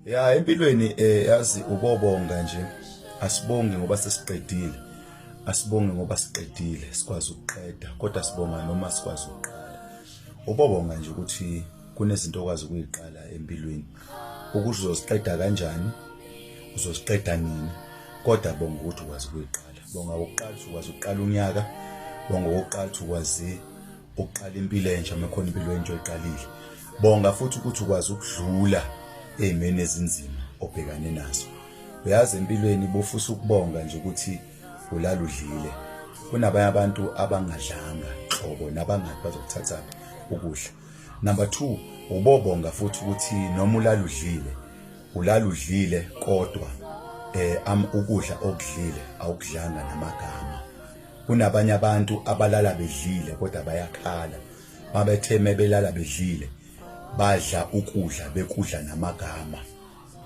ya empilweni eh yazi ukobonga nje asibongi ngoba sesiqedile asibongi ngoba siqedile sikwazi ukuqeda kodwa sibonga noma sikwazi ukuqala ubobonga nje ukuthi kunezinto okwazi ukuyiqala empilweni ukuthi uzoziqeda kanjani uzoziqeda nini kodwa bonga ukuthi ukwazi ukuyiqala bonga ukuqala ukwazi ukuqala unyaka bonga ukuqala ukwazi ukuqala impilo entsha mekhona impilo entsha oyiqalile bonga futhi ukuthi ukwazi ukudlula ezimeni ezinzima obhekane nazo uyazi empilweni bofusa ukubonga nje ukuthi ulaludlile kunabanye abantu abangadlanga qobo nabangathi bazokuthatha ukudla number 2 ubobonga futhi ukuthi noma ulaludlile ulaludlile kodwa eh am ukudla okudlile awukudlanga namagama kunabanye abantu abalala bedlile kodwa bayakhala mabethe mebelala bedlile badla ukudla bekudla namagama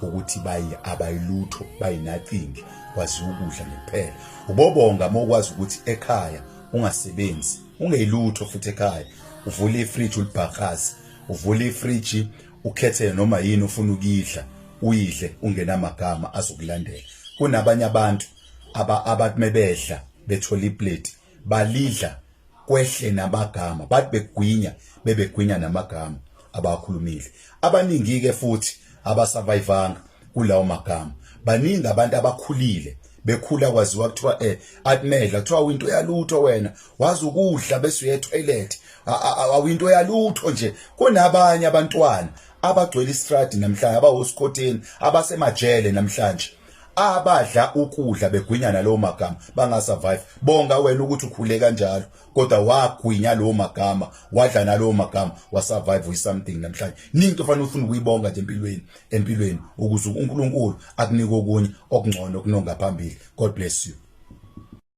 ukuthi bayi abayilutho bayinacingi kwazi ukudla ngempela ubobonga mokwazi ukuthi ekhaya ungasebenzi ungeyilutho futhi ekhaya uvule ifridge ulibhakazi uvule ifridge ukhethe noma yini ufuna ukuyidla uyidle ungenamagama azokulandela kunabanye abantu aba abathi mebedla bethola iplate balidla kwehle namagama bathi begwinya bebegwinya namagama abakhulumile abaningi ke futhi abasurvivanga kulawo magama baningi abantu abakhulile bekhula kwaziwa kuthiwa eh akumedla kuthiwa winto yalutho wena wazi ukudla bese uye toilet awinto yalutho nje kunabanye abantwana abagcwele istradi namhlanje abahosikoteni abasemajele namhlanje abadla ukudla begwinya nalowo magama bangasurvive bonga wena ukuthi ukhule kanjalo kodwa wagwinya lowo magama wadla nalowo magama wasurvive with something namhlanje ningi kufanele ufune ukuyibonga nje empilweni empilweni ukuze uNkulunkulu akunike okunye okungcono kunongaphambili god bless you